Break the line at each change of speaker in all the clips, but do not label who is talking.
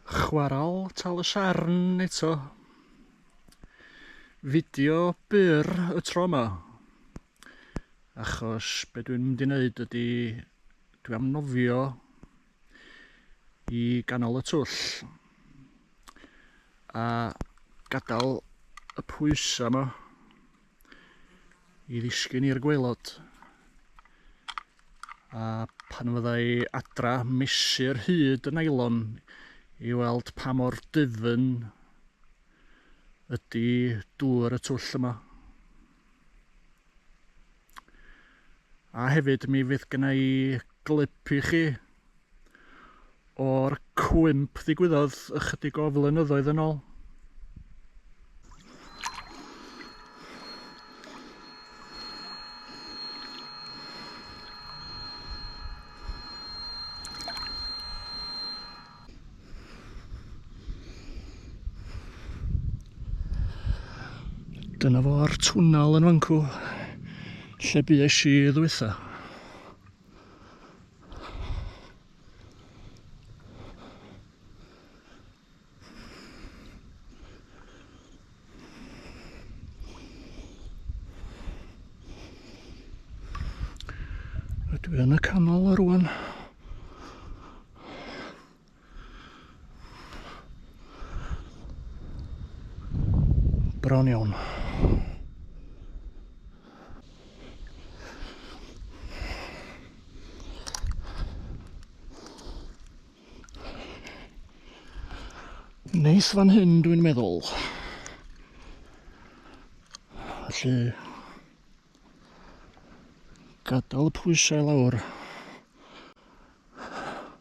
Chwarel Tal y Siarn eto. Fideo byr y tro yma. Achos be dwi'n mynd i wneud ydy dwi am nofio i ganol y twll a gadael y pwysau yma i ddisgyn i'r gweilod. A pan fydda i adra, mesur hyd y nailon i weld pa mor dyfn ydy dŵr y twll yma. A hefyd mi fydd gyna i glip i chi o'r cwymp ddigwyddodd ychydig o flynyddoedd yn ôl. Dyna fo'r twnnel yn fancw lle bues i ddwytha. Rydw i yn y canol o rwan. Bron iawn. Neis fan hyn dwi'n meddwl. Felly gadael y pwysau lawr.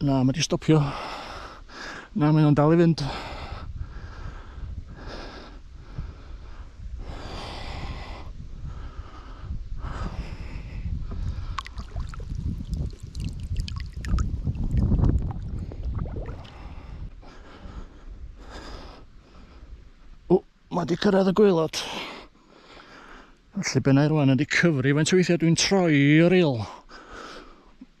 Na, mae wedi stopio. Na, mae nhw'n dal i fynd. O, mae wedi cyrraedd y gweilod. Felly benau rwan wedi cyfri faint o weithiau dwi'n troi o'r il.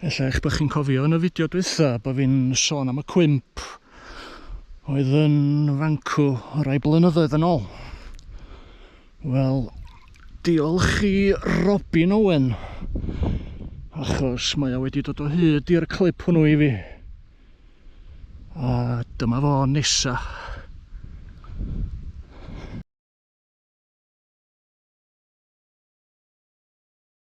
Ella eich bod chi'n cofio yn y fideo dwytha bod fi'n sôn am y cwymp oedd yn fancw rai blynyddoedd yn ôl. Wel, diolch i Robin Owen, achos mae o wedi dod o hyd i'r clip hwnnw i fi. A dyma fo nesa.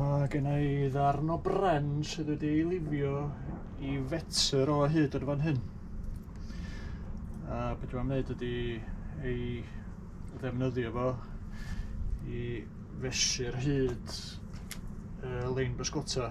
Mae gen i ddarn o bren sydd wedi ei lifio i fetr o hyd yn fan hyn. A beth dwi'n gwneud ydy ei ddefnyddio fo i fesur hyd y lein bysgota.